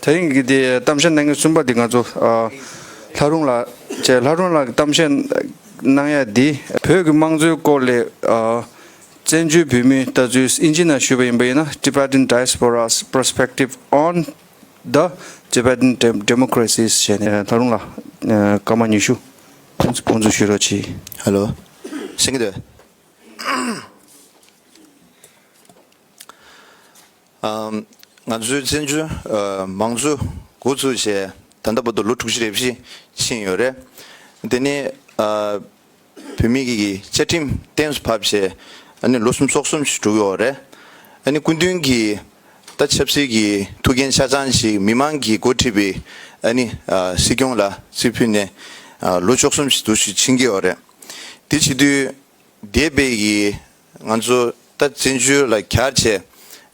དེ་རིང་གི་དེ་གཏམ་བཤད་གནང་མཁན་གསུམ་པ་དེ་ང་ཚོ། ལྷ་རུང་ལགས་བཅས་ལྷ་རུང་ལགས་ཀྱི་གཏམ་བཤད་གནང་ཡས་འདི། བོད་ཀྱི་དམངས་གཙོའི་སྐོར་ལས། བཙན་བྱོལ་བོད་མིའི་ལྟ་ཚུལ་དབྱིན་ཇི་ནང་ཞུས་པ་ཡིན་པ་ཡིན་ན Tibetan Diaspora's Perspective on the Tibetan Democracies ཞེས་ནས་ལྷ་རུང་ལགས་སྐར་མ་ཉི་ཤུ་ཕུན་སུམ་ཚོགས་ཞུས་རོགས་གྱིས། Hello སེང་གེ། ང་ཚོའི་བཙན་བྱོལ་མང་གཙོའི་མགོ་འཛུགས་བྱས་ད་ལྟ་བར་དུ་ལོ་དྲུག་ཅུ་རེ་བཞི་ཕྱིན་ཡོད་རེད། དེ་ནི་བོད་མི་རིགས་ཀྱི་བཅའ་ཁྲིམས་གཏན་སུ་ཕབ་བྱས་ནས་ལོ་གསུམ་སོ་གསུམ་ཞིག་གྲུབ་ཡོད་རེད། ཨ་ནི་སྐུ་མདུན་གྱིས་ད་ཆབ་སྲིད་ཀྱི་ཐུགས་འགན་ཆ་ཚང་ཞིག་མི་མང་གིས་འགོ་ཁྲིད་པའི་ཨ་ནི་སྲིད་སྐྱོང་ལ་རྩིས་ཕུལ་ནས་ལོ་བཅུ་གསུམ་ཞིག་འདུ་ཤེས་ཕྱིན་གྱི་ཡོད་རེད། དེ་བྱེད་དུས་འདས་པའི་ང་ཚོ་ད་བཙན་བྱོལ་ལ་གྱར་རྗེས་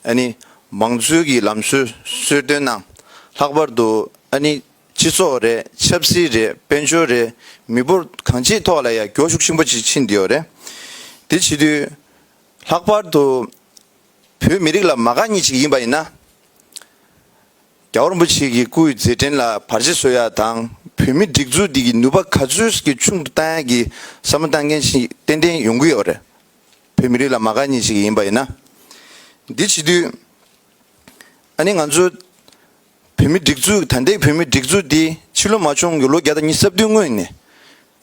ཨ་ནི་མང་གཙོའི་གི་ལམ་སྲོལ་གསོལ་སྟོན་གནང། ལྷག་པར་དུ་ཨ་ནི་སྤྱི་ཚོགས་རེད་ཆབ་སྲིད་རེད་དཔལ་འབྱོར་རེད་མི་འབོར་གང་ཅིའི་ཐོག་ལ་ཡ་གྱོ་ཤུགས་ཆེན་པོ་ཅིག་ཕྱིན་བསྡད་ཡོད་རེད། དེ་བྱེད་དུས་ལྷག་པར་དུ་བོད་མི་རིགས་ལ་མ་དགའ་ཉེས་ཅིག་ཡིན་པ་ཡིན་ན། རྒྱ་རིན་པོ་ཆེ་གི་སྐུའི་མཛད་འཕྲིན་ལ་བར་ཆད་བཟོ་ཡ་དང་བོད་མི་སྒྲིག་འཛུགས་འདི་གི་ནུས་པ་ག་ཚོད་ཀྱི་ཆུང་དུ་བཏང་ཡ་གི་བསམ་བློ་བཏང་མཁན་ཞིག་ཏན་ཏན་ཡོང་གི་ཡོད་རེད་བོད་མི་རིགས་ལ་མ་ག་ཉིད་ཞིག་ཡིན་པ་ཡིན་ན་འདི་བྱེད་དུས་ཨ་ནི་ང་ཚོ་བོད་མི་སྒྲིག་འཛུགས་ད་ལྟའི་བོད་མི་སྒྲིག་འཛུགས་འདི་ཕྱི་ལོ་མ་བྱུང་གི་ལོ་བརྒྱ་དང་ཉི་ས་བདུན་སྔོན་ནས་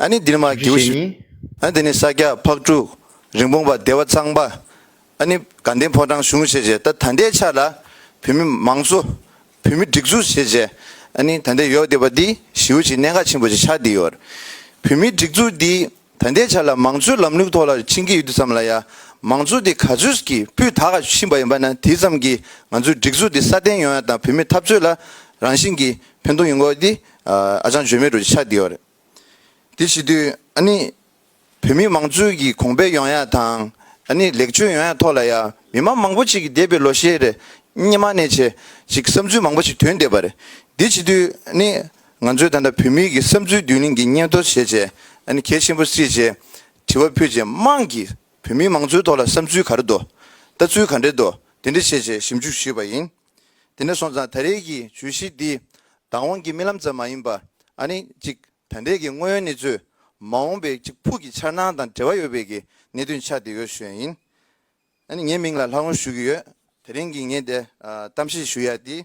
ཨ་ནི་འདི་ནི་མ་གིའུ་ཞིག་ཨ་ནི་འདི་ནི་ས་སྐྱ་ཕག་ཕྲུག་རིན་སྤུངས་པ་སྡེ་བ་གཙང་པ་ཨ་ནི་དགའ་ལྡན་ཕོ་བྲང་གཞུང་བྱས་རྗེས་ད་ད་ལྟའི་ཆ་ལ་བོད་མི་མང་གཙོ། བོད་མི་སྒྲིག་འཛུགས་བྱས་རྗེས་ཨ་ནི་ད་ལྟའི་ཡོ་བདེ་བ་འདི་ཞིའུ་ཆིའི་གནད་འགག་ཆེན་པོ་ཞིག་ཆགས་བསྡད་ཡོད། བོད་མིའི་སྒྲིག་འཛུགས་འདི་ད་ལྟའི་ཆ་ལ་མང་གཙོའི་ལམ་ལུགས་ཐོག་ལ་ཕྱིན་གྱི་ཡོད་དུས་ཙམ་ལ་ཡ་མང་གཙོ་འདི་ག་ཚོད་ཀྱི་སྤུས་དག་ག་ཕྱིན་པ་ཡིན་པ་ན་དེ་ཙམ་གྱིས་ང་ཚོའི་སྒྲིག་འཛུགས་འདི་སྲ་བརྟན་ཡོང་ཡ་དང་བོད་མིའི་འཐབ་རྩོད་ལ་རང་བཞིན་གྱིས་ཕན་ཐོག་ཡོང་དགོས་པ་འདི་ཨ་ཅང་བརྗོད་མེད་རུ་ཆགས་བསྡད་ཡོད། དེ་བྱེད་དུས་ཨ་ནི་བོད་མི་མང་ཚུལ་གྱི་གོང་འཕེལ་ཡོང་ཡག་དང་ནི་ལེགས་བཅོས་ཡོང་ཡག་ཐོག་ལ་ཡང་མི་མང་མང་པོ་ཅིག་གི་འདས་པའི་ལོ་ཤས་རེ་སྙེ་མ་ནས་བྱས་ཤིག་བསམ་ཚུལ་མང་པོ་ཅིག་དོན་འདས་པ་རེད་འདི་བྱེད་དུས་ནི་ང་ཚོས་ད་ལྟ་བོད་མི་གི་བསམ་ཚུལ་བསྡུ་གླིང་གི་སྙན་ཐོ་བྱས་བྱས་ནི་གལ་ཆེན་པོ་སྲིད་ཅེས་དྲི་བ་ཕུད་རྗེས་དམངས་ཀྱི་བོད་མི་མང་ཚུལ་ཐོག་ལ་བསམ་ཚུལ་ག་རེ་འདུག་ལྟ་ཚུལ་ག་འདྲེ་འདུག་དེ་འདྲེ་བྱས་བྱས་ཞིབ་འཇུག་ཞུས་པ་ཡིན་དེ་ནས་སོང་ཙང་ད་རེས་ཀྱི་བརྗོད་གཞི་འདི་བདག་དབང་གི་རྨི་ལམ་ཙམ་མ་ཡིན་པ་ནི་ཅིག་དོན་དེ་གི་དངོས་ཡོད་གནས་ཚུལ་མ་འོངས་པའི་གཅིག་ཕུགས་ཀྱི་འཆར་སྣང་དང་འབྲེལ་བ་ཡོད་པའི་གི་གནད་དོན་ཆ་དེ་ཡོད་ཞོན་ཡིན་ཨཱ་ནི་ངའི་མིང་ལ་ལྷག་ལུང་ཞུ་གི་ཡོད་དེ་རིང་གི་ངས་དེ་གཏམ་བཤད་ཞུ་ཡ་དེ་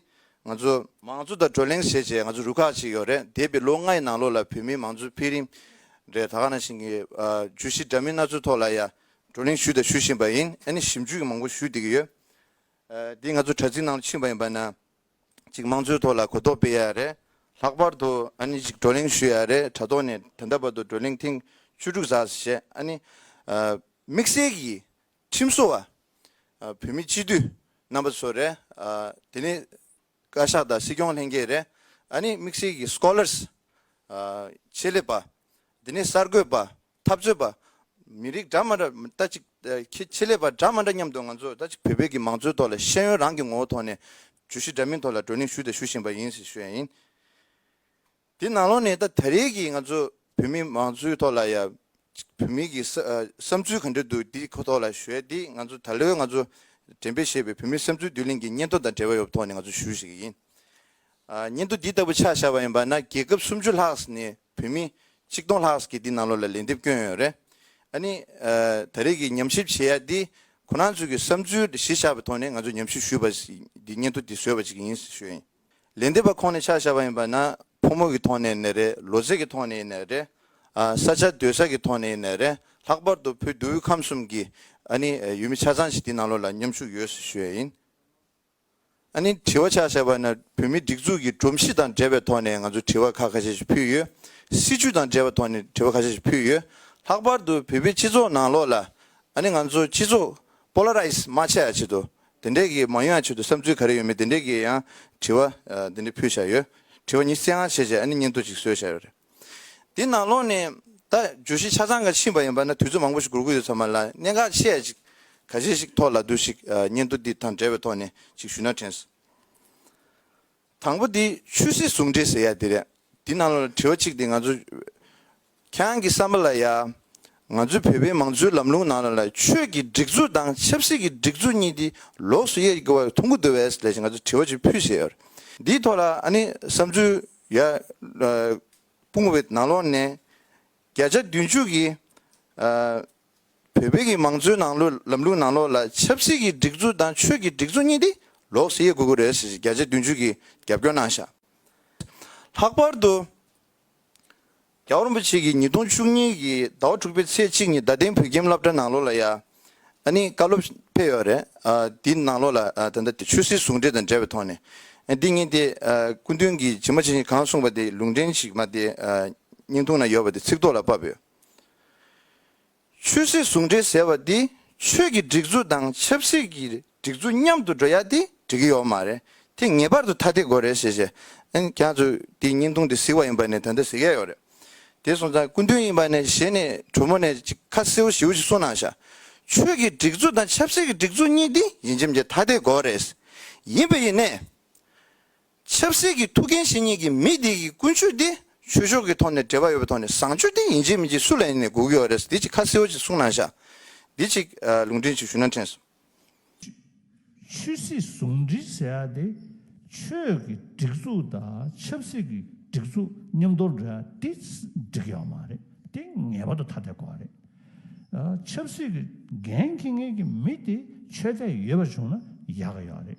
ང་ཚོ། མང་གཙོ་དང་བགྲོ་གླེང་བྱེད་བྱེད་ང་ཚོ་རུ་ཁག་ཅིག་ཡོད་རེད་འདས་པའི་ལོ་ལྔའི་ནང་ལོ་ལ་བོད་མིའི་མང་གཙོ་འཕེལ་རིམ་རེད་ད་ག་ན་ཞིང་གི་བརྗོད་གཞི་འདྲ་མིན་སྣ་ཚོགས་ཐོག་ལ་ཡ་བགྲོ་གླེང་ཞུས་དང་ཞུ་བཞིན་པ་ཡིན་ཨཱ་ནི་ཞིབ་འཇུག་གི་མང་པོ་ཞུ་དེ་གི་ཡོད་དེ་ང་ཚོ་དྲ་ཚིགས་ནང་ཕྱིན་པ་ཡིན་པ་ན། ཅིག་དམངས་གཙོའི་ཐོག་ལ་གོ་རྟོགས་སྤེལ་ཡ་རེད། ལྷག་པར་དུ་ཨ་ནི་ཅིག་བགྲོ་གླེང་ཞུ་ཡ་རེད་དྲ་ཐོག་ནས་ད་ལྟ་བར་དུ་བགྲོ་གླེང་ཐེངས་བཅུ་དྲུག་ཟག་བྱས་ཨ་ནི། དམིགས་བསལ་གྱིས་ཁྲིམས་བཟོ་བ། བོད་མི་སྤྱི་འཐུས་རྣམ་པ་ཚོ་རེད། དེ་ནི་བཀའ་ཤག་དང་སྲིད་སྐྱོང་ལྷན་རྒྱས་རེད། ཨ་ནི་དམིགས་བསལ་གྱིས Scholars། ཆེད་ལས་པ། དེ་ནི་གསར་འགོད་པ། འཐབ་རྩོད་པ། མི་རིགས་འདྲ་མ་འདྲ་ལྟ་ཅིག། ཁྱི་ཆེ་ལས་པ་འདྲ་མ་འདྲ་མཉམ་དུ་ང་ཚོ་ལྟ་ཅིག་བོད་པའི་གི་མང་གཙོའི་ཐོག་ལ་ཤེས་ཡོན་རང་གི་ངོ་བོ་ཐོག་ནས་ཇུས་གཞི་འདྲ་མིན་ཐོག་ལ་བགྲོ་གླེང་ཞུས་དང་ཞུ་བཞིན་པ་ཡིན་ཞེས་ཞུ་ཡ་ཡིན། དེ་ནང་ལོགས་ནས་ད་ད་རེས་གི་ང་ཚོ་བོད་མི་མང་གཙོའི་ཐོག་ལ་ཡ་བོད་མི་གི་བསམ་ཚུལ་ག་འདྲ་འདུག་དེ་ཁོ་ཐོག་ལ་ཞུ་ཡ་དེ་ང་ཚོ་ད་ལོའི་ང་ཚོ་འགྲེམས་སྤེལ་བྱས་པའི་བོད་མིའི་བསམ་ཚུལ་བསྡུ་ལེན་གི་སྙན་ཐོ་དང་འབྲེལ་བ་ཡོད་པ་ཐོག་ནས་ང་ཚོ་ཞུ་ཞིག་ཡིན། སྙན་ཐོ་འདི་ལྟ་བུ་ཆགས་བཞག་པ་ཡིན་པ་ན་རྒྱལ་ཁབ་སུམ་ཅུ་ལྷག་ནས་བོད་མི་ཆིག་སྟོང་ལྷག་གིས་འདི་ནང་ལོགས་ལ་ལན་འདེབས་སྐྱོན་ཡོད་རེད། ཨ་ནི། ད་རེས་ཀྱི་ཉམས་ཞིབ་བྱེད་ཡ་འདི་ཁོ་རང་ཚོའི་ཀྱི་བསམ་ཚུལ་གཞི་བཞག་པའི་ཐོག་ནས་ང་ཚོ་ཉམས་ཞིབ་ཞུས་པ་འདི་སྙན་ཐོ་འདི་བཟོས་པ་ཞིག་ཡིན་ཞུས་ཡིན། ལན་འདེབས་པ་ཁོང་ནས་ཆ་བཞག་པ་ཡིན་པ་ན་ཕོ་མོ་གྱི་ཐོག་ནས་ནས་རེད་ལོ་ཚད་ཀྱི་ཐོག་ནས་ནས་རེད། ས་ཆ་སྡོད་ས་ཀྱི་ཐོག་ནས་ནས་རེད་ལྷག་པར་དུ་བོད་དུ་ཁམས་གསུམ་གྱི་ཨ་ནི་ཡུལ་མི་ཆ་ཚང་ཞིག་འདི་ནང་ལོགས་ལ་མཉམ་ཞུགས་ཡོད་ཞུས་ཡ་ཡིན། ཨ་ནི་དྲི་བ་ཆགས་བཞག་པ་ན་བོད་མིའི་སྒྲིག་འཛུགས་ཀྱི་སྒྲོམ་གཞི་དང་འབྲེལ་བའི་ཐོག་ནས་ང་ཚོས་དྲི་བ་ཁ་ཁ་ཤས་ཤིག་ཕུལ་ཡོད། སྲིད་བྱུས་དང་འབྲེལ་བའི་ཐོག་ནས་དྲི་བ་ཁ་ཤས་ཤིག་ཕུལ་ཡོད། ལྷག་པར་དུ་བོད་པའི་སྤྱི་ཚོགས་ནང་ལོགས་ལ་ཨ་ནི་ང་ཚོ་སྤྱི་ཚོགས Polarize མ་བྱས་ཡ་ཆེད་དུ་དེ་འདྲས་ཀྱི་མ་ཡོང་ཡ་ཆེད་དུ་བསམ་ཚུལ་ག་རེ་ཡོད་མེད་དེ་འདྲས་ཀྱི་ཡང་དྲི་བ་དེ་འདྲས་ཕུལ་བཞག་ཡོད། དྲི་བ་ཉིད་བསལ་ཡང་བྱས་རྗེས་ཨ་ནི་སྙན་ཐོ་ཅིག་བཟོས་བཞག་ཡོད་རེད། འདི་ནང་ལོགས་ནས་ད་བརྗོད་གཞི་ཆ་ཚང་ག་ཕྱིན་པ་ཡིན་པ་ན་དུས་ཚོད་མང་པོ་ཞིག་འགོར་གི་ཡོད་ཚོད་མ་ལ་གནད་འགག་ཆེ་ཡ་ཅིག་ག་ཞེ་ཞིག་ཐོག་ལ་དུ་ཞིག་སྙན་ཐོ་འདི་དང་འབྲེལ་བའི་ཐོག་ནས་ཅིག་ཞུས་ན་དྲན། དང་པོ་འདི་ཆོས་སྲིད་ཟུང་འབྲེལ་ཟེར་ཡ་འདི་རེད་འདི་ནང་ལོགས་ལ་དྲི་བ་གཅིག་འདི་ང་ཚོ་ཁྱེད་རང་གི་བསམ་པ་ལ་ཡ་ང་ཚོའི་བོད་པའི་མང་གཙོའི་ལམ་ལུང་ནང་ལོགས་ལ་ཆོས་ཀྱི་སྒྲིག་འཛུགས་དང་ཆབ་སྲིད་ཀྱི་སྒྲིག་འཛུགས་གཉིས་འདི་ལོགས་སུ་དབྱེ་དགོས་བ་ཐུགས་འགུ་འདུ་བས་ལས་ཞེ་ང་ཚོ་དྲི་བ་ཅིག་ཕུལ་ཟེར་ཡོད་འདིའི་ཐོག་ལ་ཨ་ནི་བསམ་ཚུལ། ཡ། དཔུང་བོད་ནང་ལོགས་ནས་བརྒྱ་ཆ་བདུན་བཅུ་གིས་བོད་གི་མང་གཙོའི་ནང་ལོགས་ལམ་ལུགས་ནང་ལོགས་ལ་ཆབ་སྲིད་ཀྱི་སྒྲིག་འཛུགས་དང་ཆོས་ཀྱི་སྒྲིག་འཛུགས་གཉིས་དེ་ལོགས་སུ་དབྱེ་དགོས་ཀྱི་རེད་ཟེར་བཞིན་བརྒྱ་ཆ་བདུན་བཅུ་གིས་རྒྱབ་སྐྱོར་གནང་བཞག། ལྷག་པར་དུ། རྒྱ་རིན་པོ་ཆེ་གིས་ཉིས་སྟོང་བཅུ་གཉིས་ཀྱི་ཟླ་བ་དྲུག་པའི་ཚེས་གཅིག་ཉིན་རྡ་སྟེང་བོད་ཁྱིམ་བླ་བྲ་ནང་ལོགས་ལ་ཡ་ཨ་ནི་བཀའ་སློབ་ཕེབས་ཡོད་རེད། དེའི་ནང་ལོགས་ལ་ད་ལྟ་དེ་ཆོས་སྲིད་ཟུང་འབྲེལ་དང་འབྲེལ་བའི་ཐོག་ནས་འདི་ཉིན་དེ་སྐུ་མདུན་གྱིས་ཇི་མ་ཇི་བཞིན་གང་གསུངས་པ་དེ་ལུང་འདྲེན་ཞིག་མ་དེ་སྙིང་ཐུང་ན་ཡོད་པ་དེ་ཚིག་ཐོག་ལ་བབས་ཡོད། ཆོས་སྲིད་ཟུང་འབྲེལ་ཟེར་བ་འདི་ཆོས་ཀྱི་སྒྲིག་འཛུགས་དང་ཆབ་སྲིད་ཀྱི་སྒྲིག་འཛུགས་མཉམ་དུ་འགྲོ་ཡ་དེ་འགྲིག་གི་ཡོག་མ་རེད་དེ་ངེས་པར་དུ་ཐ་དད་དགོས་རེད་ཞེས་བཤད་ཨན་རྒྱ་མཚོས་དེ་བརྙན་ཐུང་དེ་གཟིགས་བ་ཡིན་པ་ནས་ད་ལྟ་གཟིགས་ཡས་ཡོག་རེད་དེ་སོང་ཙང་སྐུ་མདུན་ཡིན་པ་ནས་ཞེ་ནས་དྲོ་མོ་ནས་ཅིག་ཁ་སེའུ་ཞེའུ་ཞིག་གསུངས་གནང་ཤག་ཆོས་ཀྱི་སྒྲིག་འཛུགས་དང་ཆབ་སྲིད་ཀྱི་སྒྲིག་འཛུགས་གཉིས་དེ་ཡིན་ཇེམ་ཇེ་ཐ་དད་དགོས་རེད་ཡིན་པ་ཡིན་ནས། ཆབ་སྲིད་ཀྱི་ཐུགས་འགན་བཞེས་ཉིན་གྱི་མི་དེ་ཡི་ཀུན་སྤྱོད་དེ་ཆོས་ཕྱོགས་ཀྱི་ཐོག་ནས་འབྲེལ་བ་ཡོད་པའི་ཐོག་ནས་བཟང་སྤྱོད་དེ་ཡིན་གཅིག་མིན་གཅིག་སུ་ལ་ཡིན་ནས་སྒུག་ཡོད་རེད་འདི་གཅིག་ཁ་གསལ་བོ་གཅིག་གསུང་གནང་བཞག་འདི་གཅིག་ལུང་འདྲེན་གཅིག་ཞུ་ན་འཕྲན་སོང། ཆོས་སྲིད་ཟུང་འབྲེལ་བྱས་ཡ་དེ་ཆོས་ཀྱི་སྒྲིག་འཛུགས་དང་ཆབ་སྲིད་ཀྱི་སྒྲིག་འཛུགས་མཉམ་དོར་འདྲ་དེ་འགྲིག་ཡོད་མ་རེད་དེ་ངེས་པར་དུ་ཐ་དད་དགོས་རེད་ཆབ་སྲིད་ཀྱི་འགན་འཁྱི་ངེས་ཀྱི་མི་དེ་ཆོས་དད་ཡོད་པ་བྱུང་ན་ཡག་ཡོད་རེད།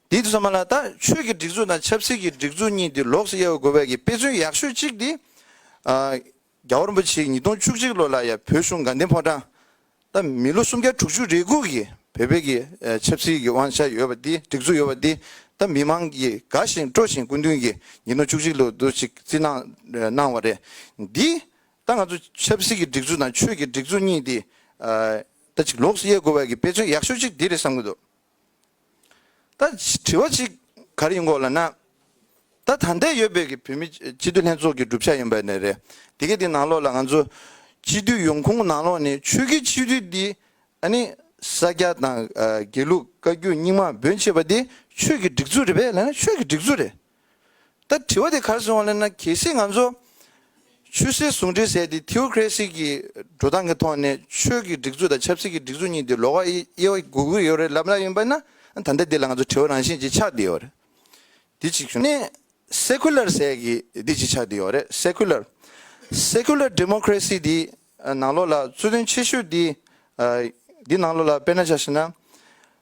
འདི་ཚང་མ་ལ་ད་ཆོས་ཀྱི་སྒྲིག་འཛུགས་དང་ཆབ་སྲིད་ཀྱི་སྒྲིག་འཛུགས་གཉིས་འདི་ལོགས་སུ་དབྱེ་བ་དགོས་པའི་དཔེ་མཚོན་ཡག་ཤོས་གཅིག་འདི། རྒྱ་བོ་རིན་པོ་ཆེ་ཉིས་སྟོང་བཅུ་གཅིག་ལོ་ལ་ཡ་བོད་གཞུང་དགའ་ལྡན་ཕོ་བྲང་ད་མི་ལོ་སུམ་བརྒྱ་དྲུག་ཅུ་རེ་གུག་གིས་བོད་པའི་གི་ཆབ་སྲིད་ཀྱི་དབང་ཆ་ཡོད་པ་འདི་སྒྲིག་འཛུགས་ཡོད་པ་འདི་ད་མི་མང་གིས་དགའ་བཞིན་སྤྲོ་བཞིན་སྐུ་མདུན་གྱིས་ཉིས་སྟོང་བཅུ་གཅིག་ལོ་དུ་ཅིག་བརྩི་གནང་གནང་བ་རེད་འདི་ད་ང་ཚོ་ཆབ་སྲིད་ཀྱི་སྒྲིག་འཛུགས་དང་ཆོས་ཀྱི་སྒྲིག་འཛུགས་གཉིས་འདི། ད་ཅིག་ལོགས་སུ་དབྱེ་དགོས་པའི་དཔེ་མཚོན་ཡག་ཤོས་གཅིག་འདི་རེད་བསམ་གྱི་འདུག། ད་དྲི་བ་ཞིག་ག་རེ་ཡིན་གོ་ལ་ན། ད་ད་ལྟའི་ཡོད་པའི་གི་བོད་མི་སྤྱི་འཐུས་ལྷན་ཚོགས་ཀྱི་བསྒྲུབ་བྱ་ཡིན་པ་ནི་རེད། དེ་གའི་དེ་ནང་ལོགས་ལ་ང་ཚོ་སྤྱི་འཐུས་ཡོང་ཁུངས་ནང་ལོགས་ནི་ཆོས་ཀྱི་སྤྱི་འཐུས་འདི་ཨ་ནི་ས་སྐྱ་དང་དགེ་ལུགས་བཀའ་བརྒྱུད་རྙིང་མ་འབོད་མཆེད་པ་འདི་ཆོས་ཀྱི་སྒྲིག་འཛུགས་རེད་པས་ལ་ན་ཆོས་ཀྱི་སྒྲིག་འཛུགས་རེད། ད་དྲི་བ་དེ་གར་བྱུང་བ་ལེན་ན་གལ་སྲིད་ང་ཚོ་ཆོས་སྲིད་ཟུང་འབྲེལ་ཟེར་ཏེ Theocracy གྱི་འགྲོ་སྟངས་ཀྱི་ཐོག་ནས་ཆོས་ཀྱི་སྒྲིག་འཛུགས་དང་ཆབ་སྲིད་ཀྱི་སྒྲིག་འཛུགས་གཉིས་དེ་ལོག་ཨེ་ཡོད་དགོས་ཀྱི་ཡོད་རེད་ལབ་ན་ཡིན་པ་ན་ད་ལྟ་འདི་ལ་ང་ཚོ་དྲི་བ་རང་བཞིན་གྱིས་ཆགས་བསྡད་ཡོད་རེད། དེ་གཅིག་བྱུང་ནས Secular ཟེར་གྱི་དེ་གཅིག་ཆགས་བསྡད་ཡོད་རེད Secular། Secular Democracy དེའི་ནང་ལོགས་ལ་རྩོད་དོན་ཆེ་ཤོས་དེ་དེའི་ནང་ལོགས་ལ་དཔེར་ན་ཆ་ཤེས་ན།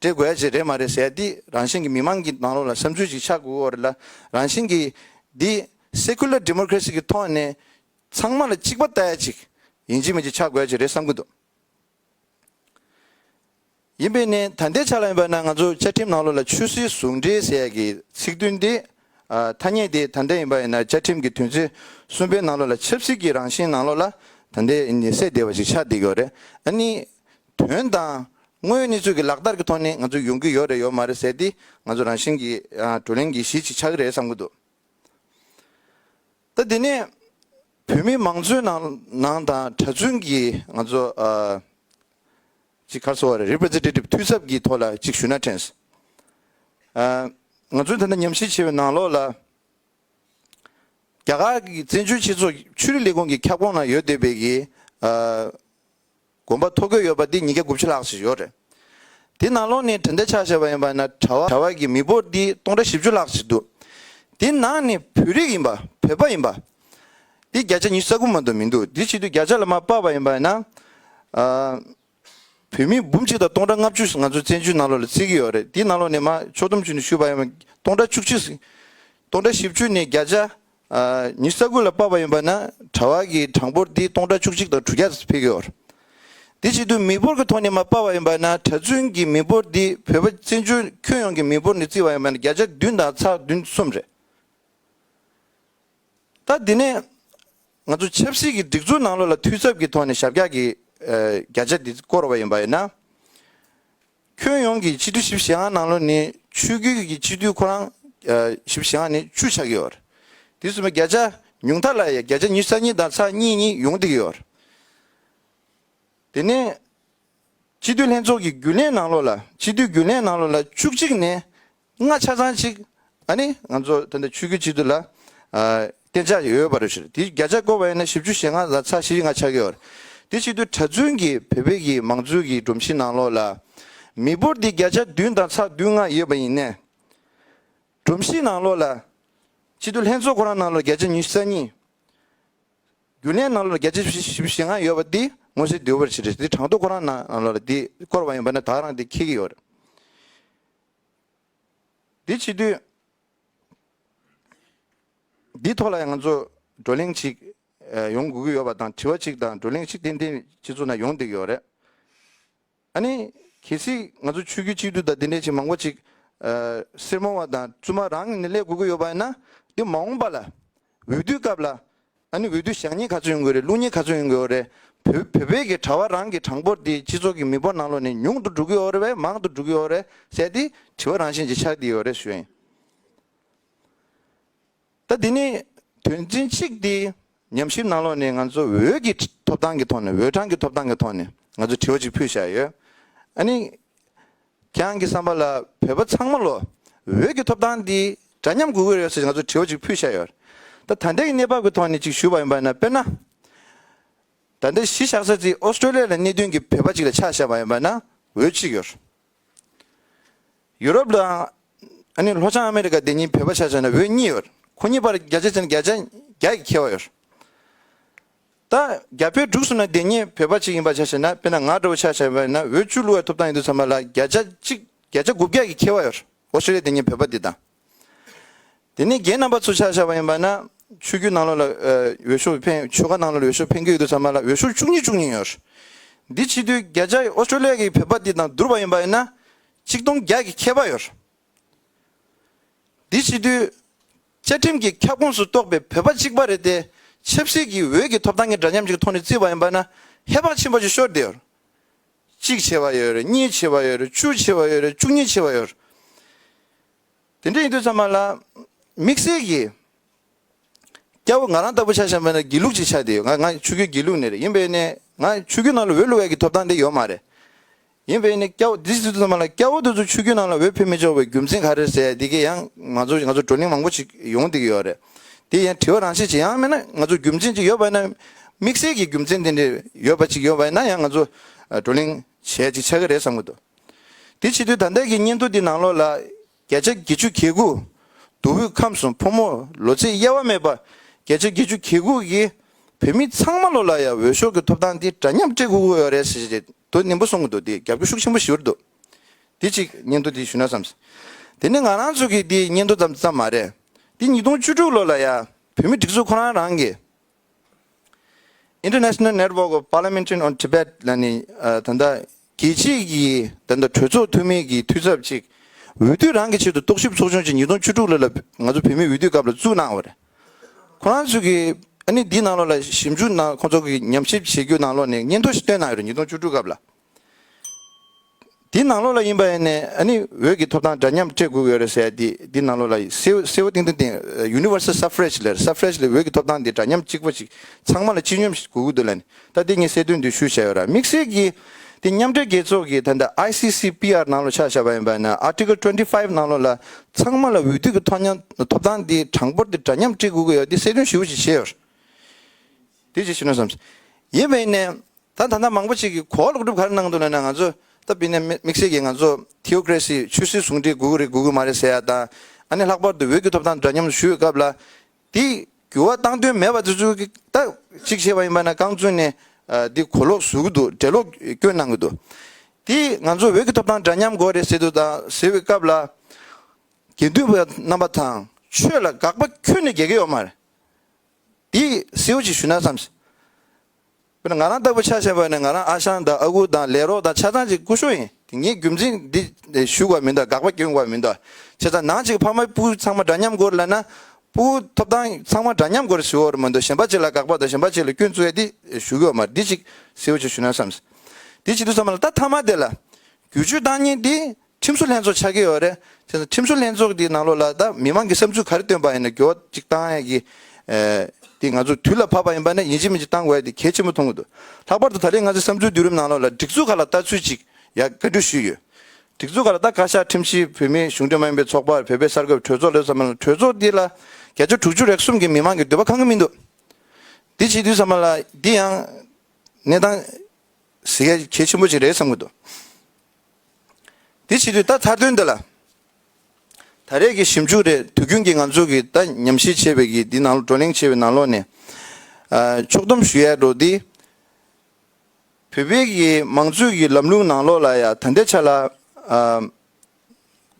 འདྲེ་རྒོད་ཅིག་རེད་མ་རེད་ཟེར་འདི་རང་བཞིན་གྱི་མི་མང་གི་ནང་ལོགས་ལ་བསམ་ཚུལ་ཅིག་ཆགས་དགོས་འོ་རེད་ལ་རང་བཞིན་གྱི་འདི Secular Democracy གི་ཐོག་ནས་ཚང་མ་ལ་གཅིག་པ་ལྟ་ཡ་ཅིག་ཡིན་གཅིག་མིན་ཅིག་ཆགས་དགོས་ཅིག་རེད་བསམ་གི་འདུག་ཡིན་པས་ནི་ད་ལྟའི་ཆ་ལ་ཡིན་པ་ན་ང་ཚོ་བཅའ་ཁྲིམས་ནང་ལོགས་ལ་ཆོས་སྲིད་ཟུང་འབྲེལ་ཟེར་གྱི་ཚིག་དོན་འདི་ཐ་སྙད་འདི་ད་ལྟ་ཡིན་པ་ཡིན་ན་བཅའ་ཁྲིམས་གི་དོན་ཚིག་གསུམ་པའི་ནང་ལོགས་ལ་ཆབ་སྲིད་ཀྱི་རང་བཞིན་ནང་ལོགས་ལ་ད་ལྟའི་ནི་སེ་བདེ་བ་ཅིག་ཆགས་བསྡད་ཀྱི་འོ་རེད་ཨ་ནི། དོན་དང། དངོས་ཡོད་གནས་ཚུལ་གྱི་ལག་བསྟར་གྱི་ཐོག་ནས་ང་ཚོས་ཡོང་གི་ཡོད་རེད་ཡོད་མ་རེད་ཟེར་ཏེ་ང་ཚོ་རང་བཞིན་གྱིས་བགྲོ་གླེང་གི་གཞི་ཅིག་ཆགས་ཀྱི་རེད་བསམ་གྱི་འདུག་ད། དེ་ནས་བོད་མི་མང་གཙོའི་ནང་ནང་དང་གྲྭ་བཙུན་གྱིས་ང་ཚོ་ཅིག་ཁར་སོ་བར Representative འཐུས་ཚབ་ཀྱི་ཐོག་ལ་ཅིག་ཞུ་ན་དྲན། ང་ཚོས་ད་ལྟ་ཉམས་ཞིབ་བྱས་པའི་ནང་ལོགས་ལ། རྒྱ་གར་གྱི་བཙན་བྱོལ་སྤྱི་ཚོགས་ཆོས་རིག་ལས་ཁུངས་ཀྱི་ཁྱབ་ཁོངས་ནང་ཡོད་སྡོད་པའི་གི། དགོན་པ་ཐོ་འགོད་ཡོད་པ་འདི་ཉིས་བརྒྱ་དགུ་བཅུ་ལྷག་ཞིག་ཡོད་རེད། དེ་ནང་ལོགས་ནས་གྲི་མདའ་ཆགས་བཞག་པ་ཡིན་པ་ན་གྲྭ་བ་ཀྱི་མི་འབོར་འདི་སྟོང་ཕྲག་བཞི་བཅུ་ལྷག་ཞིག་འདུག་དེ་ནང་ནས་བོད་རིགས་ཡིན་པ་བོད་པ་ཡིན་པ་འདི་བརྒྱ་ཆ་ཉི་ཤུ་རྩ་དགུ་མ་གཏོགས་མི་འདུག་དེ་ཕྱིས་དུ་བརྒྱ་ཆ་ལ་མ་དཔག་པ་ཡིན་པ་ན། བོད་མི་འབུམ་གཅིག་དང་སྟོང་ཕྲག་ལྔ་བཅུ་ང་ཚོ་བཙན་བྱོལ་ནང་ལོགས་ལ་བརྩིས་ཀྱི་ཡོད་རེད་དེ་ནང་ལོགས་ནས་མ་ཕྱོགས་སྡོམ་བྱུས་ནས་བཞུགས་པ་ཡིན་པ་སྟོང་ཕྲག་བཅུ་གཅིག་སྟོང་ཕྲག་བཞི་བཅུ་ནས་བརྒྱ་ཆ་ཉི་ས་ཀུན་ལ་དཔག་པ་ཡིན་པ་ན་དྲ་བ་ཀྱི་གྲངས་འབོར་འདི་སྟོང་ཕྲག་བཅུ་གཅིག་དང་དྲུག་བརྒྱ་དུ་འཕེལ་གྱིོར། དེ་བཞིན་དུ་མི་འབོར་གྱི་ཐོག་ནས་མ་དཔག་པ་ཡིན་པ་ན་གྲྭ་བཙུན་གྱི་མི་འབོར་འདི་བོད་པ་བཙན་བྱོལ་ཁྱོན་ཡོངས་ཀྱི་མི་འབོར་ནས་བརྩིས་པ་ཡིན་པ་ན་བརྒྱ་ཆ་བདུན་དང་ཚགས་བདུན་གསུམ་རེད། ད་འདི་ནས་ང་ཚོ་ཆབ་སྲིད་ཀྱི་སྒྲིག་འཛུགས་ནང་ལོགས་ལ་འཐུས་ཚབ་ཀྱི་ཐོག་ནས་ཞབས་བཀྱག་གིས་བརྒྱ་ཆ་འདི་བསྐོར་བ་ཡིན་པ་ཡིན་ན། ཁྱོན་ཡོངས་ཀྱི་ཕྱི་དྲོ་ཞིབ་བཤེར་ཨང་ནང་ལོ་ནི་ཆུ་རྒྱུད་ཀྱི་ཕྱི་དྲོའི་ཁོ་རང། ཞིབ་བཤེར་ཨང་ནི་ཆུ་ཆགས་ཀྱི་འོར། དུས་གསུམ་པའི་བརྒྱ་ཆ། ཉུང་མཐའ་ལ་ཡང་བརྒྱ་ཆ་ཉི་ས་གཉིས་དང་ཚ་གཉིས་གཉིས་ཡོང་སྡིག་ཡོད་འོར། དེ་ནས། ཕྱི་དྲོའི་ལྷན་ཚོགས་ཀྱི་རྒྱུན་ལས་ནང་ལོ་ལ་ཕྱི་དྲོའི་རྒྱུན་ལས་ནང་ལོ་ལ་བཅུ་གཅིག་ནས་ལྔ་ཆ་ཚང་གཅིག་ཨ་ནི་ང་ཚོ་ད་ལྟ་ཆུ་རྒྱུད་གཅིག་ཏུ་ལ་བརྟེན་ཆགས་ཡོད་པ་རེད་ཞུ་རེད་དེ་བརྒྱ་ཆ་བསྐོར་བ་ཡིན་ན་བཞི་བཅུ་ཞེ་ལྔ་ལ་ཚ་བཞི་ལྔ་ཆགས་ཀྱི་ཡོད་རེད་དེ་གཅིག་ཏུ་གྲྭ་བཙུན་གྱི་བོད་པའི་གི་མང་གཙོའི་གི་སྒྲོམ་གཞི་ནང་ལོགས་ལ་མི་འབོར་དེ་བརྒྱ་ཆ་བདུན་དང་ཚ་བདུན་ལྔ་ཡོད་པ་ཡིན་ནས་སྒྲོམ་གཞི་ནང་ལོགས་ལ་གཅིག་ཏུ་ལྷན་ཚོགས་ཁོ་རང་ནང་ལོགས་བརྒྱ་ཆ་ཉི་ཤུ་རྩ་གཉིས་རྒྱུན་ལས་ནང་ལོགས་ལ་བརྒྱ་ཆ་བཞི་བཞི་ཞེ་ལྔ་ཡོད་པ་དེ་ངོ་ཤེས་དེ་འོས་པ་ཞིག་རེད་དེ་གྲངས་ཐོ་ཁོ་རང་ནང་ལོགས་ལ་དེ་བསྐོར་བ་ཡིན་པ་ན་དག་རང་དེ་ཁེལ་གྱི་ཡོད་རེད་འདི་ཕྱི་དུས་འདིའི་ཐོག་ལ་ཡང་ང་ཚོ་བགྲོ་གླེང་ཞིག་ཡོང་དགོས་ཀྱི་ཡོད་པ་དང་དྲི་བ་ཞིག་དང་བགྲོ་གླེང་ཞིག་ཏན་ཏན་སྤྱི་ཚོགས་ནང་ཡོང་བསྡད་ཀྱི་ཡོད་རེད། ཨ་ནི་གལ་སྲིད་ང་ཚོ་ཆོས་བརྒྱུད་གཅིག་སྡུད་དང་དེ་འདྲའི་ཞིག་མང་པོ་ཞིག་སེར་མོ་བ་དང་བཙུན་མ་རང་ངེས་ནས་སླེབས་དགོས་ཀྱི་ཡོད་པ་ཡིན་ན། འདི་མ་འོངས་པ་ལ་འོས་བསྡུའི་སྐབས་ལ་ད་ནི་འོས་བསྡུ་ཞག་གཉིས་ག་ཚོད་ཡོང་གི་རེད་ལུག་གཉིས་ག་ཚོད་ཡོང་གི་འོ་རེད། བོད་བོད་བོད་ཀྱི་གྲྭ་བ་རང་གི་གྲངས་འབོར་འདི་སྤྱི་ཚོགས་ཀྱི་མི་འབོར་ནང་ལོགས་ནས་ཉུང་དུ་འགྲོ་གི་འོ་རེད་བས་མང་དུ་འགྲོ་གི་འོ་རེད་ཟེར་ཏེ་དྲི་བ་རང་བཞིན་གྱིས་ཆགས་འདི་འོ་རེད་ཞུ་ཡིན། ད་འདི་ནི་དོན་ཚན་གཅིག་འདི་ཉམས་ཞིབ་ནང་ལོགས་ནས་ང་ཚོ་འོས་ཀྱི་ཐོབ་ཐང་གི་ཐོག་ནས་འོས་གྲངས་ཀྱི་ཐོབ་ཐང་གི་ཐོག་ནས་ང་ཚོ་དྲི་བ་གཅིག་ཕུལ་བཞག་ཡོད། ཨ་ནི་ཁྱེད་རང་གི་བསམ་པ་ལ་བོད་པ་ཚང་མ་ལོ་འོད་ཀྱི་ཐོབ་ཐང་འདི་འདྲ་མཉམ་དགོས་ཀྱི་རེད་ཟེར་ནས་ང་ཚོར་དྲི་བ་ཅིག་ཕུལ་བཞག་ཡོད། ད་ད་ལྟའི་གནས་བབ་ཀྱི་ཐོག་ནས་ཅིག་ཞུ་བ་ཡིན་པ་ན་དཔེར་ན། ད་ལྟའི་གཞི་བཞག་ས་ཚིགས་ཨོ་སྟྲོ་ལི་ཡ་ལ་གནས་སྡོད་ཀྱི་བོད་པ་ཅིག་ལ་ཆ་བཞག་པ་ཡིན་པ་ན་འོས་ཅི་ཡོད། ཡུ་རོབ་དང། ཨ་ནི་ལྷོ་བྱང་ཨ་མི་རི་ཀ་འདི་གཉིས་བོད་པ་ཆ་བཞག་ན་འོས་གཉིས་ཡོད་ཁོ་གཉིས་བར་བརྒྱ་ཆ་ཚན་བརྒྱ་ཆ་བརྒྱ་ཡི་ཁྱད་བ་ཡོད། ད་རྒྱ་བོད་འབྲུག་གསུམ་ན་དེ་གཉིས་བོད་པ་གཅིག་ཡིན་པར་བྱ་ཞེ་ན་དཔེར་ན་ང་འདྲ་བོ་ཆ་བྱ་བས་ན་འོད་བཅུ་གླུ་བའི་ཐོབ་ཐང་ཡིན་འདུག་ཚང་མ་ལ་བརྒྱ་ཆ་གཅིག་བརྒྱ་ཆ་དགུ་བརྒྱ་གིས་ཁྱེར་བ་ཡོད་ཨོ་སི་རེ་དེ་གཉིས་བོད་པ་འདི་དང་དེ་ནས་རྒྱའི་རྣམ་པ་ཚོ་ཆ་བྱ་བ་ཡིན་པ་ན་ཆོས་རྒྱུད་ནང་ལོགས་ལ་འོད་ཤུགས་འཕེན་ཆོལ་ཁ་ནང་ལོགས་ལ་འོད་ཤུགས་འཕེན་གྱི་ཡོད་འདུག་ཚང་མ་ལ་འོད་ཤུགས་བཅུ་གཉིས་བཅུ་གཉིས་ཡོད་འདི་ཕྱི་དུས་བརྒྱ་ཆ་ཨོ་སི་ཏྲོ་ལི་ཡ་གིས་བོད་པ་འདི་དང་བསྡུར་བ་ཡིན་པ་ཡིན་ན་གཅིག་སྟོང་བརྒྱ་གིས་ཁྱེར་བ་ཡོད་འདི་ཕྱི་དུས། བཅའ་ཁྲིམས་ཀྱི་ཁྱབ་ཁོངས་སུ་གཏོགས་པའི་བོད་པ་གཅིག་པ་རེ་དེ་ཆབ་སྲིད་ཀྱི་འོས་ཀྱི་ཐོབ་ཐང་གི་འདྲ་མཉམ་གཅིག་གི་ཐོག་ནས་བརྩིས་པ་ཡིན་པ་ན་ཧེ་བག་ཆེན་པོ་ཞིག་ཤོར་བསྡད་ཡོད། གཅིག་ཆེ་བ་ཡོད་རེད་གཉིས་ཆེ་བ་ཡོད་རེད་བཅུ་ཆེ་བ་ཡོད་རེད་བཅུ་གཉིས་ཆེ་བ་ཡོད་རེད། དེ་འདྲ་ཡིན་དུས་ཚང་མ་ལ་དམིགས་བསལ་གྱིས་སྐྱ་བོ་ང་རང་ལྟ་བུ་ཆགས་བཞིན་པ་ནི་དགེ་ལུགས་གཅིག་ཆགས་བསྡད་ཡོད། ང་ང་ཆོས་རྒྱུད་དགེ་ལུགས་ནས་རེད་ཡིན་པས་ནས་ང་ཆོས་རྒྱུད་ནང་ལ་འོས་བླུགས་འོས་ཀྱི་ཐོབ་ཐང་དེ་ཡོད་མ་རེད། ཡིན་བས་ནི་སྐྱ་བོ་འདི་ཟེར་དུས་ཚང་མ་ལ་སྐྱ་བོ་དེ་ཚོ་ཆུ་རྒྱུན་ནང་ལ་འོད་ཕེབས་མི་ཆོག་པའི་རྒྱུ་མཚན་ག་རེ་ཟེར་དེ་གས་ཡང་ང་ཚོ་ང་ཚོ་བགྲོ་གླེང་མང་པོ་ཞིག་ཡོང་སྡིགས་ཡོད་རེད་དེ་ཡང་དྲི་བ་རང་བྱེད་ཅི་ཡང་མེད་ན་ང་ཚོ་རྒྱུ་མཚན་ཅིག་ཡོད་པ་ན་དམིགས་བསལ་གྱི་རྒྱུ་མཚན་དེ་འདྲས་ཡོད་པ་ཅིག་ཡོད་པ་ན་ཡང་ང་ཚོ་བགྲོ་གླེང་བྱས་ཅིག་ཆགས་ཀྱི་རེད་བསམ་གྱི་འདུག་དེ་ཕྱི་དུས་ད་ལྟའི་གི་སྙན་ཐོ་འདི་ནང་ལོགས་ལ་བརྒྱ་ཆ་བརྒྱད་ཅུ་གྱ་དགུ་བསྡུ་བོད་ཁམས་སུ་ཕོ་མོ་ལོ་ཚད་དབྱེ་བ་མེད་པ་བརྒྱ་ཆ་བརྒྱད་ཅུ་གྱ་དགུ་གི་བོད་མི་ཚང་མ་ལོ་ལ་ཡང་འོས་ཤོག་གི་ཐོབ་ཐང་འདི་འདྲ་མཉམ་སྤྲད་དགོས་ཀྱི་རེད་ཟེར་གྱི་དོ་སྙིང་པོ་གསུང་གི་འདུག་འདི་རྒྱབ་སྐྱོར་ཤུགས་ཆེན་པོ་ཞུ་རེ་འདུག་འདི་གཅིག་སྙན་ཐོ་འདི་ཞུ་ན་བསམ། དེ་ནི་ང་རང་ཚོ་གི་འདི་སྙན་ཐོ་ཙམ་མ་རེད་འདི་ཉིས་སྟོང་བཅུ་དྲུག་ལོ་ལ་ཡང་བོད་མི་སྒྲིག་འཛུགས་ཁོ་རང་རང་གི། International Network of Parliamentarians on Tibet། ལ་ནི་ད་ལྟ་རྒྱལ་སྤྱིའི་གྱི་ད་ལྟ་གྲོས་ཚོགས་འཐུས་མི་གྱི་འཐུས་ཚབ་ཅིག་འོས་བསྡུ་རང་གི་ཆེད་དུ་རྟོག་ཞིབ་ཚོགས་ཆུང་ཅིག་ཉིས་སྟོང་བཅུ་དྲུག་ལོ་ལ་ང་ཚོ་བོད་མིའི་འོས་བསྡུའི་སྐབས་ལ་བཙུགས་གནང་བ་རེད། ཁོ་རང་ཚོས་གི་ཨ་ནི་འདིའི་ནང་ལོགས་ལ་ཞིབ་འཇུག་གནང་ཁོ་ཚོ་གི་ཉམས་ཞིབ་བྱེད་རྒྱུ་ནང་ལོགས་ནས་སྙན་ཐོ་ཞིག་བཏོན་གནང་ཡོད་རེད་ཉིས་སྟོང་བཅུ་དྲུག་སྐབས་ལ། འདི་ནང་ལོགས་ལ་ཡིན་པ་ཡིན་ནི་ཨ་ནི་འོད་ཀྱི་ཐོབ་ཐང་འདྲ་མཉམ་སྤྲད་དགོས་ཀྱི་ཡོད་རེད་ཟེར་འདི་འདི་ནང་ལོགས་ལ་སེའུ་སེའུ་ཏིང་ཏིང་ཏིང Universal Suffrage ལེར Suffrage ལེར་འོད་ཀྱི་ཐོབ་ཐང་འདི་འདྲ་མཉམ་གཅིག་པ་ཞིག་ཚང་མ་ལ་སྤྱི་སྙོམས་དགོས་ཀྱི་འདུག་ལན་ད་འདི་གཉིས་སེ་དོན་འདུས་ཞུ་བྱས་ཡོད་ར་དམིགས་བསལ་གྱིས་འདི་མཉམ་འབྲེལ་རྒྱལ་ཚོགས་ཀྱི་ད་ལྟ ICCPR ནང་ལོགས་ཆགས་བཞག་པ་ཡིན་པ་ཡིན་ན Article Twenty Five ནང་ལོགས་ལ་ཚང་མ་ལ་འོས་བསྡུ་གི་ཐོ་མཉམ་ཐོབ་ཐང་འདི་གྲངས་འབོར་འདི་འདྲ་མཉམ་སྤྲད་དགོས་ཀྱི་ཡོད་འདི་སེ་དོན་ཞུ་བ་ཞིག་བྱས་ཡོད་ར་འདི་ཅིག་ཞུ་ན་བསམ་ཡིན་པ་ཡིན་ནི། ད་ད་ནངས་མང་པོ་ཅིག་གི་གོ་ལོག་སྒྲུབ་ག་རེ་གནང་འདུག་ན་ན་ང་ཚོ་ད་བི་ན་དམིགས་བསལ་གྱི་ང་ཚོ Theocracy ཆོས་སྲིད་ཟུང་འབྲེལ་དགོས་ཀྱི་རེད་དགོས་ཀྱི་མ་རེད་ཟེར་ཡ་དང་ཨ་ནི་ལྷག་པར་དུ་འོས་བསྡུ་ཐོབ་ཐང་འདྲ་མཉམ་ཞུ་ཡོད་སྐབས་ལ་དེ་འགྱུར་བ་བཏང་དོན་མེད་པ་དེ་ཚོའི་གི་ད་གཅིག་བྱས་པ་ཡིན་པ་ན་རྐང་བཙུན་ནས་དེ་གོ་ལོག་བཟོ་གི་འདུག་འགྲེལ་ལོག་སྐྱོན་གནང་གི་འདུག་དེ་ང་ཚོ་འོས་ཀྱི་ཐོབ་ཐང་འདྲ་མཉམ་དགོས་རེད་ཟེར་དུ་ད་ཟེར་བའི་སྐབས་ལ་དགེ་འདུན་པ་རྣམ་པ་དང་ཆོས་ལ་དགག་པ་ཁྱོན་ནས་རྒྱག་གི་ཡོད་མ་རེད་དེ་གསལ་བོ་ཅིག་ཞུ་ན་བསམ། དཔེར་ན་ང་རང་ལྟ་བུ་ཆ་ཆེ་བ་ནི་ང་རང་ཨ་ཞང་དང་ཨ་ཁུ་དང་ལས་རོགས་དང་ཆ་ཚང་གཅིག་སྐུ་ཞོ་ཡིན་དེ་ངས་རྒྱུ་མཚན་འདི་ཞུ་དགོས་མིན་དང་དགག་པ་བསྐྱོན་དགོས་མིན་དང་བྱས་ཙང་ནང་གཅིག་ཕ་མ་སྤུན་ཚང་མ་འདྲ་མཉམ་སྐོར་ལ་ན་སྤུ་བོ་ཐོབ་ཐང་ཚང་མ་འདྲ་མཉམ་སྐོར་ཞུ་བར་མ་འདུག་གཞན་པ་གཅིག་ལ་དགག་པ་དང་གཞན་པ་གཅིག་ལ་སྐྱོན་བཙུགས་ཡ་དེ་ཞུ་གི་ཡོད་མ་རེད་འདི་གཅིག་གསལ་བོ་ཆེ་ཞུ་ན་བསམས། དེ་བྱེད་དུ་བསམས་ལ་ད་མཐའ་མ་དེ་ལ། རྒྱུ་ཆོས་བདག་གཉེར་འདི་ཁྲིམས་བཟོ་ལྷན་ཚོགས་ཆགས་ཀྱི་ཡོད་རེད། དེ་ནི་ཁྲིམས་བཟོ་ལྷན་ཚོགས་དེའི་ནང་ལོགས་ལ་ད་མི་མང་གི་བསམ་ཚུལ་ག་རེ་བཏོན་པ་ཡིན་ན་འགྱུར་བ་གཅིག་བཏང་ཡས་ཀྱི། དེ་ང་ཚོ་དུས་ལ་བབ་པ་ཡིན་པ་ནས་ཡིན་གཅིག་མིན་གཅིག་བཏང་དགོས་ཡས་དེ་གལ་ཆེན་པོ་མཐོང་གི་འདུག་ལྷག་པར་དུ་ད་རེས་ང་ཚོའི་བསམ་ཚུལ་བསྡུ་རིམ་ནང་ལོགས་ལ་སྒྲིག་འཛུགས་ཁག་ལ་ལྟ་ཚུལ་གཅིག་ཡས་བཀའ་འཁྲོལ་ཞུས་ཡོད། སྒྲིག་འཛུགས་ཁག་ལ་ད་བཀའ་ཤག་ཁྲིམས་ཞིབ་བོད་མིའི་གཞུང་འབྲེལ་མ་ཡིན་པའི་ཚོགས་པར་བོད་པའི་གསར་འགོད་པའི་གྲོས་ཚོགས་ལོས་ཙམ་མ་ལ་གྲོས་ཚོགས་འདི་ལ་བརྒྱ་ཆ་དྲུག་ཅུ་རེག་གསུམ་གྱི་མི་མང་གི་འདོད་པ་གང་གི་མི་འདུག་འདི་བྱེད་དུས་ཙམ་མ་ལ་འདི་ཡང་གནས་སྟངས་གཟི་གས་གལ་ཆེན་པོ་ཅིག་རེད་བསམ་གི་འདུག། དེ་བྱེད་དུས་ད་མཐར་དོན་འདི་ལ། ད་རེས་ཀྱི་ཞིབ་འཇུག་རེད་དུས་རྒྱུན་གྱི་ང་ཚོ་གི་ད་ཉམས་ཞིབ་བྱེད་པའི་གི་འདི་ནང་བགྲོ་གླེང་བྱེད་པའི་ནང་ལོགས་ནས། ཕྱོགས་བསྡོམས་ཞུ་ཡས་འགྲོ་འདི། བོད་པའི་གི་མང་གཙོའི་གི་ལམ་ལུགས་ནང་ལོགས་ལ་ཡ་ད་འདི་ཆ་ལ།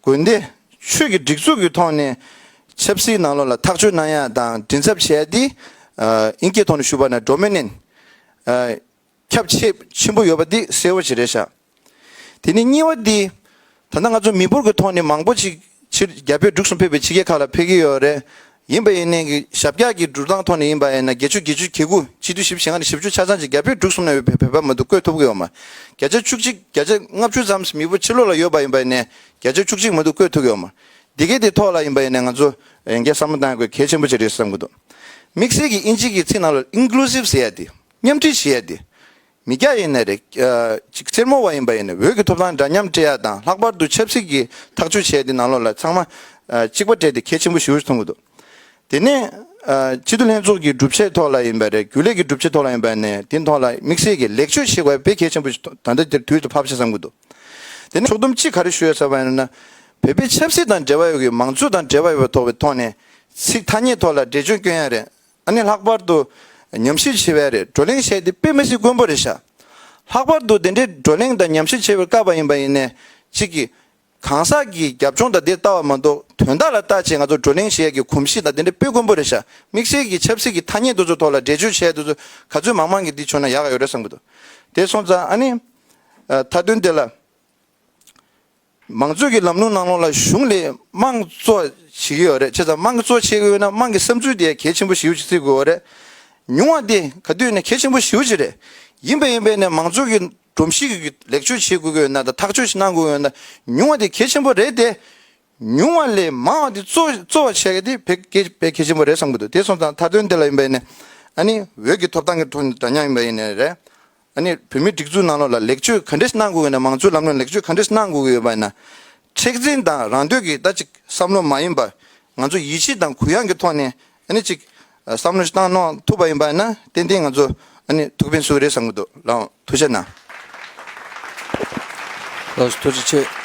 དགོན་སྡེ་ཆོས་ཀྱི་སྒྲིག་འཛུགས་གི་ཐོག་ནས་ཆབ་སྲིད་ནང་ལོགས་ལ་ཐག་གཅོད་གནང་ཡ་དང་མགྲིན་ཚབ་བྱས་འདི། ཨིན་སྐད་ཐོག་ནས་ཞུ་བ་ན་འགྲོ་མི་ནན། ཁྱབ་ཆེས་ཆེན་པོ་ཡོད་པ་འདི་གསལ་བོ་བྱེད་རེ་བྱ། དེ་ནི་གཉིས་བ་འདི། ད་ནང་ང་ཚོ་མི་འབོར་གྱི་ཐོག་ནས་མང་པོ་ཞིག་ཕྱིར་རྒྱ་བོད་འབྲུག་གསུམ་ཕེབས་པའི་ཕྱི་རྒྱལ་ཁག་ལ་ཕེབས་ཀྱི་ཡོད་རེད། ཡིན་པ་ཡིན་ནའི་ཞབས་བཀྱག་གི་འགྲུལ་སྟངས་ཐོག་ནས་ཡིན་པ་ཡིན་ན་བརྒྱད་ཅུ་བརྒྱད་ཅུ་གྱ་དགུ་གཅིག་བསྡུས་ཞིབ་བྱེད་ཁང་ནས་ཞིབ་འཇུག་ཆ་ཚང་ཅིག་རྒྱ་བོད་འབྲུག་གསུམ་ན་ཡོད་པའི་བོད་པ་མང་དུ་བཀོད་ཐུབ་ཀྱི་ཡོད་མ་བརྒྱ་ཆ་བཅུ་གཅིག་བརྒྱ་ཆ་ལྔ་བཅུ་ཙམ་མི་བོ་ཕྱི་ལོགས་ལ་ཡོད་པ་ཡིན་པ་ཡིན་ནའི་བརྒྱ་ཆ་བཅུ་གཅིག་མང་དུ་བཀོད་ཐུབ་ཀྱི་ཡོད་མ་འདི་གའི་དེ་ཐོག་ལ་ཡིན་པ་ཡིན་ནའི་ང་ཚོ་ཡན་གྱ་བསམ་བློ་གཏང་དགོས་གལ་ཆེན་པོ་ཅིག་རེད་བསམ་གྱི་འདུག་དམིགས་བསལ་གྱི་དབྱིན་ཇིག་གི་ཚིག་ནང་ལ Inclusive ཟེར་ཡ་དེ། མཉམ་འདྲིས་ཞེས་ཡ་དེ། མི་སྐྱ་ཡིན་ནི་རེད། གཅིག་སེར་མོ་བ་ཡིན་པ་ཡིན་ནི་འོད་ཀྱི་ཐོབ་ཐང་འདྲ་མཉམ་སྤྲད་ཡག་དང་ལྷག་པར་དུ་ཆབ་སྲིད་ཀྱི་ཐག་གཅོད་བྱས་ཏེ་ནང་ལོག་ལ་ཚང་མ་གཅིག་པ་སྤྲད་དེ་གལ་ཆེན་པོ་ཞུ་སོང་གི་འདུག་དེ་ནས། སྤྱི་འཐུས་ལྷན་ཚོགས་ཀྱི་སྒྲུབ་བྱེད་ཐོག་ལ་ཡིན་པ་རེད་རྒྱུ་ལས་ཀྱི་སྒྲུབ་བྱེད་ཐོག་ལ་ཡིན་པ་ནས་དེ་ཐོག་ལ་དམིགས་བསལ་གྱི་ལེགས་བཅོས་བྱེད་དགོས་པའི་གལ་ཆེན་པོ་ད་ལྟ་འདིར་དུས་སུ་ཕབ་བྱས་བསམ་གི་འདུག་དེ་ནས་ཕྱོགས་བསྡོམས་གཅིག་ག་རེ་ཞུ་ཡོད་ས་བ་ཡིན་ན། བོད་པའི་ཆབ་སྲིད་དང་འབྲེལ་བ་ཡོད་ཀྱི་མང་གཙོ་དང་འབྲེལ་བ་ཡོད་པ་ཐོག་བའི་ཐོག་ནས་ཚིག་ཐ་སྙད་ཐོག་ལ་འགྲེལ་བརྗོད་སྐྱོན་ཡག་རེད། ཨ་ནི་ལྷག་པར་དུ་ཉམས་ཞིབ་བྱེད་པའི་རེད་བགྲོ་གླེང་བྱས་ཏེ་དཔེ་མི་སྲིད་མགོན་པོ་རེད་ཤག། ལྷག་པར་དུ་དེ་འདྲའི་བགྲོ་གླེང་དང་ཉམས་ཞིབ་བྱེད་པར་དཀའ་བ་ཡིན་པ་ཡིན་ནས་ཅིག་གིས། གང་ཟག་གི་རྒྱབ་ལྗོངས་དང་དེ་ལྟ་བ་མ་གཏོགས་དོན་དག་ལ་བལྟ་བྱེད་ང་ཚོ་བགྲོ་གླེང་བྱེད་ཡ་གི་གོམས་གཤིས་དང་དེ་འདྲའི་དཔེ་མགོན་པོ་རེད་ཤག་དམིགས་བསལ་གྱི་ཆབ་སྲིད་ཀྱི་ཐ་སྙད་དུ་ཚོ་ཐོག་ལ་འགྲེལ་བརྗོད་བྱས་དུ་ཚོ་ག་ཚོད་མང་མང་གི་འདི་བྱུང་ན་ཡག་ཡོད་རེད་བསམ་གི་འདུག་དེ་སོང་ཙང་ཨ་ནི། ད་དོན་དེ་ལ། མང་གཙོ་གི་ལམ་ལུགས་ནང་ལོགས་ལ་གཞུང་ལས་དམངས་གཙོ་བྱེད་ཀྱི་ཡོད་རེད་ཁྱེད་ཚང་དམངས་གཙོ་བྱེད་ཀྱི་ཡོད་ན་དམངས་ཀྱི་བསམ་ཚུལ་དེ་གལ་ཆེན་པོ་ཞེའུ་ཅིག་བརྩི་དགོས་བ་རེད་ཉུང་བ་དེ་ག་དུས་ནས་གལ་ཆེན་པོ་ཞེའུ་ཅིག་རེད་ཡིན་པ་ཡིན་པས་ནས་མང་གཙོ་གི་སྒྲོམ་གཞིག་གི་ལེགས་བཅོས་བྱེད་དགོས་ཀྱི་ཡོད་ན་དང་ཐག་གཅོད་ཞིག་གནང་དགོས་ཀྱི་ཡོད་ན་ཉུང་བ་དེ་གལ་ཆེན་པོ་རེད་དེ། ཉུང་བ་ལས་མང་བ་དེ་གཙོ་གཙོ་བ་བྱེད་དེ་བས་གལ་བས་གལ་ཆེན་པོ་རེད་བསམ་གྱི་འདུག་དེ་སོང་ཙང་མཐའ་དོན་དེ་ལ་ཡིན་པས་ནས་ཨ་ནི་འོས་ཀྱི་ཐོབ་ཐང་གི་ཐོག་ནས་འདྲ་མཉམ་ཡིན་པ་ཡིན་ནས་རེད། ཨ་ནི་བོད་མིའི་སྒྲིག་འཛུགས་ནང་ལོགས་ལ་ལེགས་བཅོས་ག་འདྲི་གནང་དགོས་ཀྱི་ཡོད་ན་མང་གཙོའི་ལམ་ལུགས་ལེགས་བཅོས་ག་འདྲི་གནང་དགོས་ཀྱི་ཡོད་པ་ཡིན་ན། མཁྲེགས་འཛིན་དང་རང་འདོད་ཀྱི་ད་ཅིག་བསམ་བློ་མ་ཡིན་པར་ང་ཚོ་ཡིད་ཆེས་དང་གུ་ཡངས་ཀྱི་ཐོག་ནས་ཨ་ནི་ཅིག་བསམ་བློ་ཞིག་བཏང་གནང་ཐུབ་པ་ཡིན་པ་ཡིན་ན་ཏན་ཏན་ང་ཚོ་ཨ་ནི་ཐུགས་ཕན་སུ་རེད་བསམ་གྱི་འདུག་ལའང་ཐུགས་ཞེ་གནང། ལོགས་སུ་ཐུགས་རྗེ་ཆེ།